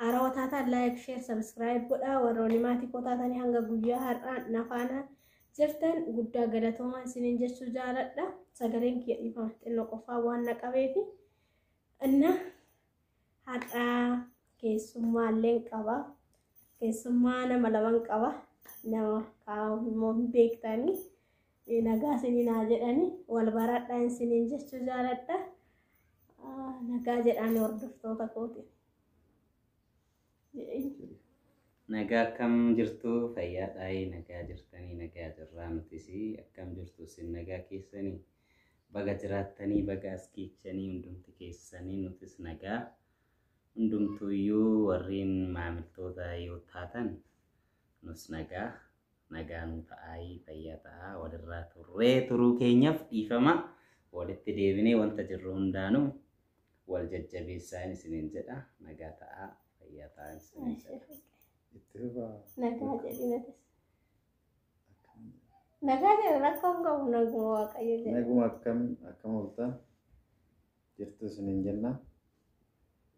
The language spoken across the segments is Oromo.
Haarawaa taataan laayik, sheer, sabiskiraayib godhaa. Warroonni maatii koo taatanii hanga guyyaa har'aa na faana jirtan guddaa galatoomaa isiniin jechuu jaaladha. Sagaleen kiyya dhiifama xinnoo qofaa waan na qabeefi. Inna har'aa keessummaa illee qaba. Keessummaa nama laman qaba. Nama kaa'u immoo hin beektanii. Nagaa isinii naa jedhani wal baradha isiniin jechuu jaaladha. Nagaa jedhaan hordoftoota kooti. Nagaa akkam jirtu fayyaadhaayi nagaa jirtanii nagaa jirraa nutis akkam jirtu isin nagaa keessanii baga jiraattanii baga as geechanii hundumti keessanii nutis nagaa hundumtuuyyuu warreen maamiltoota yoo taatan nus nagaa nagaa nuu ta'aayii fayyaa ta'aa walirraa turree turuu keenyaf dhiifama walitti deebinee wanta jirru hundaanu wal jajjabeessaan isiniin jedha nagaa ta'aa fayyaa ta'aa isiniin jedha. Itti rubaa. Nagaa jedhi natis. Nagaa jedhi rakkoo hin qabu naguma waaqayyo jedhi. Naguma akkam akkam ooltan jirtu isiniin jenna.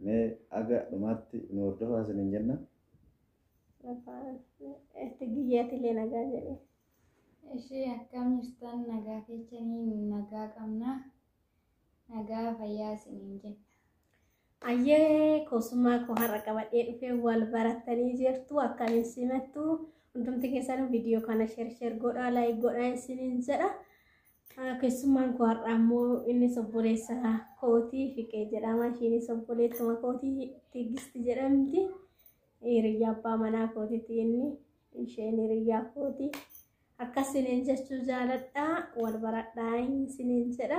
Mee aga dhumaatti nu hordofaa isiniin jenna. Tigiyyaatilee nagaa jedhe. Ishee akkam jirtan nagaa keessanii nagaa qabna. Nagaa fayyaa isiniin jenna. Ayyee kosummaa koo har'a qabadhee dhufee wal barattanii jirtu akkamiin simattu hundumti keessanuu viidiyoo kana sheer sheer godhaa laayik godhaa isiniin jedha. Keessummaan koo har'a ammoo inni obboleessa kootii fiqee jedhama. Ishiinis obboleettuma kootii tigisti jedhamti. Hiriyyaa abbaa manaa kootiti inni isheen hiriyyaa kooti. Akkas siniin jechuu jaaladhaa wal baradhaa inni siniin jedha.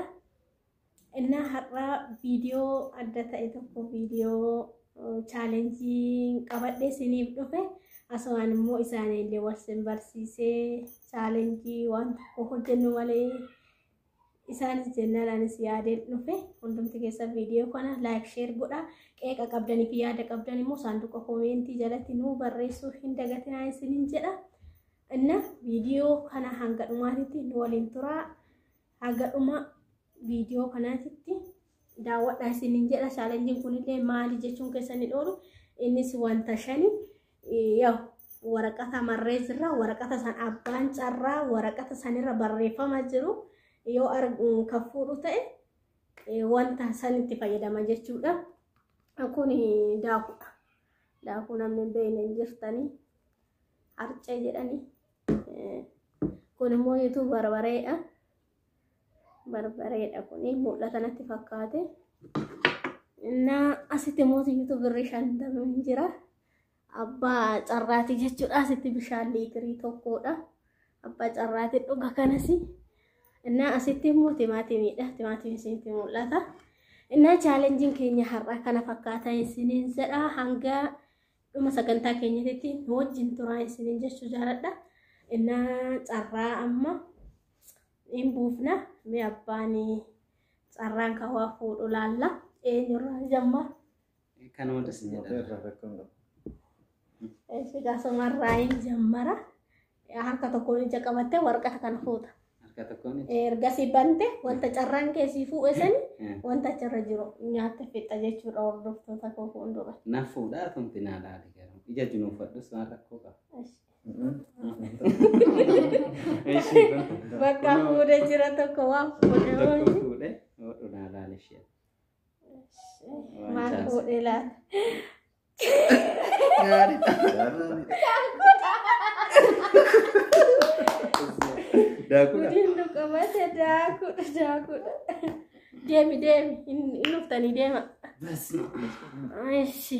Innaa har'aa viidiyoo adda ta'e tokko viidiyoo chaalenjii qabadhee siniif dhufe asumaan immoo isaaniillee wal sin barsiisee chaalenjii waan tokko hojjennu malee isaanis jennaan anis yaadeen dhufe hundumti keessa viidiyoo kana laayik sheer godha qeeqa qabdanii fi yaada qabdan immoo saanduqa koomeentii jalatti nuu barreessuu hin dagatinaa isinin jedha inna viidiyoo kana hanga dhumaatitti nu waliin turaa hanga dhuma viidiyoo kanaatitti daawwadhaa isiniin jedha chaalenjiin kunillee maali jechuun keessa ni dhoolu innis wanta shani yaw waraqata marrees irra waraqata san abbaan carraa waraqata sanirra barreeffama jiru yoo kan fuudhu ta'e wanta san itti fayyadama jechuudha kun daakudha daakuu namni hin beekne hin jirtanii harcee jedhanii kun immoo yuutuub barbareedha barbareedha kuni mul'ata natti fakkaate innaa asitti mootii yuutu birrii shantama hin jira abbaa carraati jechuudha asitti bishaan liitirii tokkodha abbaa carraati dhuga kanas innaa asitti immoo timaatimiidha timaatimiin isinitti mul'ata innaa chaalenjiin keenya har'a kana fakkaata isiniin jedha hanga dhuma sagantaa keenyatti nu wajjin turaa isiniin jechuu jaaladha innaa carraa amma hin buufna mee abbaan carraan kan waa fuudhu laalla eenyurraa jamma Kan hunda si jedha. Irraa rakkoo hin qabu. sigaasumarraa hin jammara harka tokkoon ija qabattee warqata kan fuuta Harka tokkoon itti. ergasii bante wanta carraan keessii fuudhe sani Eh, wanta achirra jiru nyaatte fixxa jechuudha hordoftoota koo fuuldura. Na fuudhaa tumti naa laali garuu. Ija jinuufadhus waan rakkoo qaba. Ish. Bakka fuudhee jira tokko waan fuudhee wayii. Maal fuudhee laata? Gudiin nu qabate daakudha daakudha. Deemi deemi hin hin dhuftanii deema. Ishi.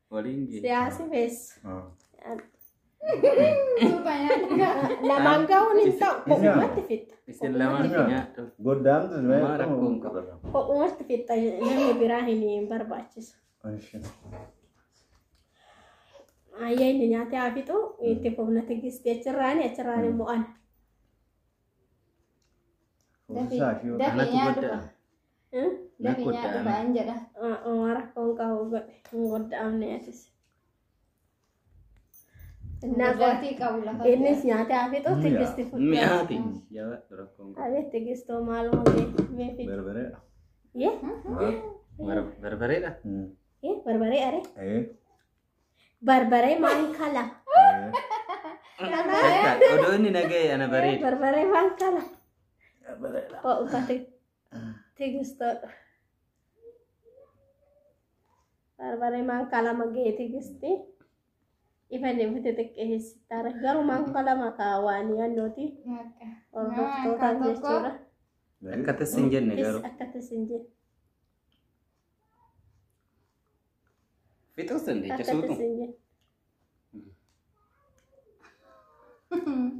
Waliin geessu. Siyaasi beessu. Lamaan gahuun hin ta'u. Kophumatti fixxa. Isin lamaan Yaa. nyaadhu. Goddaamtu Maa rakkoo hin qabu. Kophumatti fixxa namni biraa hin hin barbaachisu. Ayyee inni nyaatee haa fixu itti fufna tigisti achirraani achirraani immoo ana. Dafii Anatu nyaadhu. godda. Gadi nyaadhu ba'an jedha. Omaa rakkoon qabu godhe hin godda'amne atis. Innaa qo- Gudaatii qabu lafa. Innis nyaatee haa fixu tigisti fudhu. Mi'aati. Jabaadhu rakkoon qabu. Abeet tigistoo maaluma mee mee fixu. Barbareedha. Yee Bar- Barbareedha. yee barbaree aree Ee. barbaree maal kala Odoo inni naga'e ana bareeda. barbaree maal kala Barbareedha. ho'u kate Tigisto. Barbaree maankaa lama ga'e tigisti. Ifa deebite xiqqeessitaara. Garuu maankaa lama kaawaan yaannooti. Hordoftootaan jechuudha. Akka tassi hin jenne garuu. Akka tassi hin jenne. Fixuus dandeecha Akka tassi suutu. hin jenne.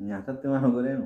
Nyaatatti waan godheenu.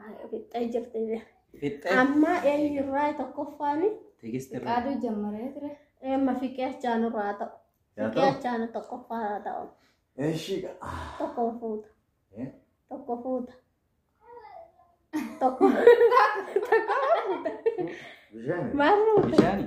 Haaya, Fixxee jirti bee. Fixxee. Amma eenyurraa tokkoffaani Tigisti irraa. Qaaduu jammaree ture. amma fiqee achaanurraa haa ta'u. Yaa Fiqee ta'u. achaanu tokkoffaa haa ta'u. Eshi. Tokko fuuta. Eh? Tokko fuuta. Tokko. Bishaan. Maal fuuta? Bishaani.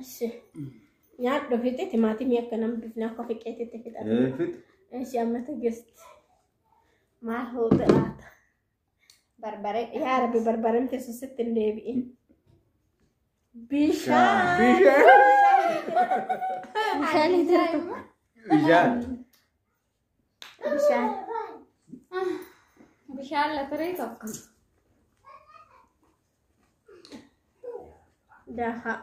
Eshi. Nyaadhu fixe timaatimii akka nam bifna akka fiqeetitti fixan. Ee fix. Eshi amma tigist. Maal hoote laata? Barbaree yaa rabbi barbareen keessa sitti hin deebi'in. Bishaan. Bishaan. Bishaan. Bishaan. Bishaan. Bishaan latirii tokko. Daakaa.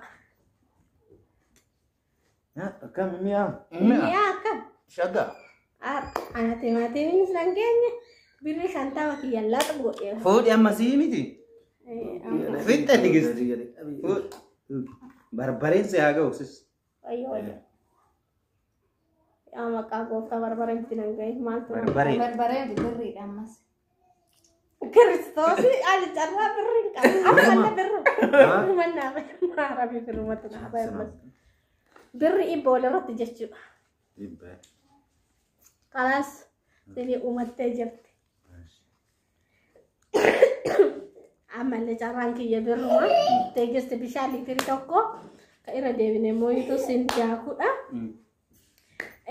Akkam mi'a? Mi'a akkam? Shaga. Ana timaatimiin san keenya birri shantama kiyya laata godhee. Fuudhi amma sii miti. Fixxe digis. Barbareen si haa ga'u sis. Wayyo wayyo. Yaa maqaa gooftaa barbaree itti nan ga'e maaltu Barbaree. Barbareen birriidha ammas. Kiristoosii ani carraa birri hin qabu. Ammanna birru. Ammanna birru. Arabii birrumatti naa bahe ammas. Birri ibba walirratti jechuudha. Kalaas sini uumattee jirti. Ammallee carraan kiyya birruma. Teegisti bishaan liitirii tokko kan irra deebine mooyitu siin daakudha.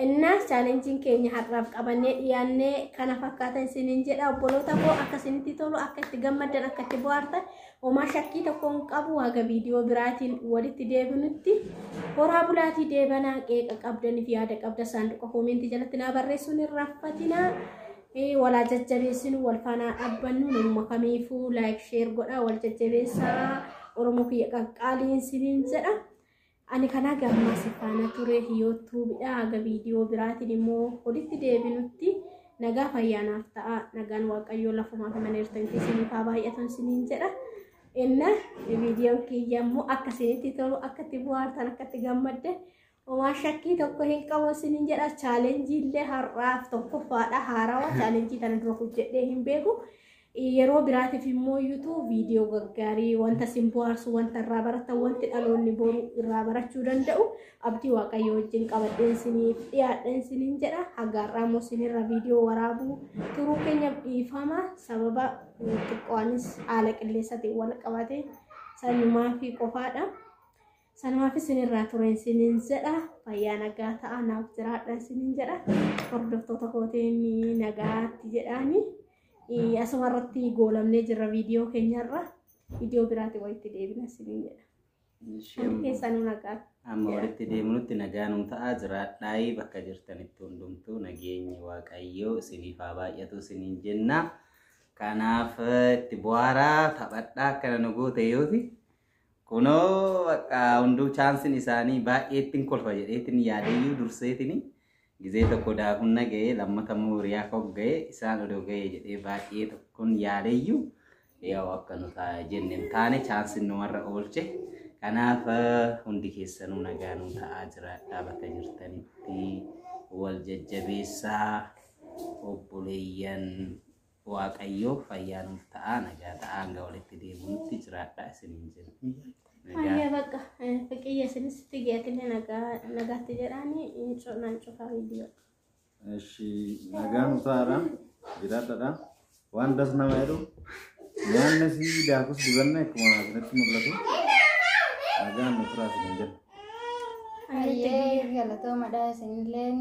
Innaas chaalenjiin keenya har'aaf qabannee dhiyaannee kana fakkaatan isiniin jedha obboloota koo akka isinitti tolu akka itti gammaddan akka itti bohaartan homaa shakkii tokko hin qabu haga viidiyoo biraatiin walitti deebinutti horaa bulaatii deebanaa qeeqa qabdaniif yaada qabda saanduqa koomentii jalatti naa barreessuun hin raffatinaa. Ee walaa jajjabeessinu wal faanaa dhaabbannu namuma kamiifuu laayik sheer godhaa wal jajjabeessaa oromoo kiyya qaqqaaliin siniin jedha. Ani kanaa gammaa si faana ture yootuubidha haga viidiyoo biraatiin immoo walitti deebinutti nagaa fayyaanaaf ta'a nagaan waaqayyoo lafumaa fi maneertan keessaniif haa baay'atan siniin jedha. Inna viidiyoon kiyya immoo akka isinitti tolu akka itti bu'aartan akka itti gammadde Homaa shakkii tokko hin qabu isinin jedha chaalenjii illee har'aaf tokkoffaadha haarawa chaalenjii kana dura hojjedhee hin beeku. Yeroo biraatiif immoo yuutuu viidiyoo gaggaarii wanta sin bohaarsu wanta irraa baratan wanti dhaloonni boru irraa barachuu danda'u abdii waaqayyo wajjin qabadheen isiniif dhiyaadheen isinin jedha haga har'aa immoo isinirra viidiyoo waraabuu turuu keenyaaf dhiifama sababa xiqqoonis haala qilleensaatiin wal qabate sanumaa fi qofaadha. Sanumaaf isinirraa ture isiniin jedha. Fayyaa nagaa ta'a naaf jiraadha isiniin jedha. Hordoftoota kootiin nagaatti jedhaani. Asuma irratti goolamnee jirra viidiyoo keenyarra. Viidiyoo biraatti walitti deebina isiniin jedha. Kan keessanuu nagaatti. Amma walitti deemnutti nagaa nuu ta'a jiraadhaayii bakka jirtanitti hundumtuu nageenyi waaqayyoo isiniif haa baay'atu isiniin jenna. Kanaaf itti bu'aaraa taphadhaa akkana nu goote yooti. Kunoo bakka hunduu chaansin isaanii baay'eettiin kolfa jedheetiin yaadeyyuu durseetiin gizee tokko daakuun na ga'ee lammata immoo hiriyaa koo ga'ee isaan odoo ga'ee jedhee baay'ee tokkoon yaadeyyuu yaa'u akka nu ta'a jenne hin taane chaansin numarra oolche. Kanaaf hundi keessanuu nagaa nu ta'aa jiraadhaa bakka jirtanitti wal jajjabeessaa obboleeyyan Waaqayyoo fayyaa nuuf ta'aa nagaa ta'aa hanga walitti deebinutti jiraadhaa isiniin jenna. Hayyee bakka fiqiyya isinis figiyatillee nagaatti jedhaani nan cufaa viidiyoo. Eshi nagaan utaara jiraadhadha. Waan das nama jedhu nyaanni si daakus dibanna akkuma asirratti mul'atu nagaan nu turaa isin jedha. Hayyee galatoomadha isinillee.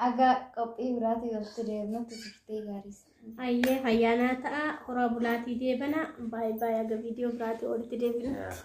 Aga qophii biraatii walitti deemnutti turtee gaariis. Hayyee fayyaanaa ta'a horaa bulaatii deebana baay'ee baay'ee aga viidiyoo biraatii walitti deebinutti.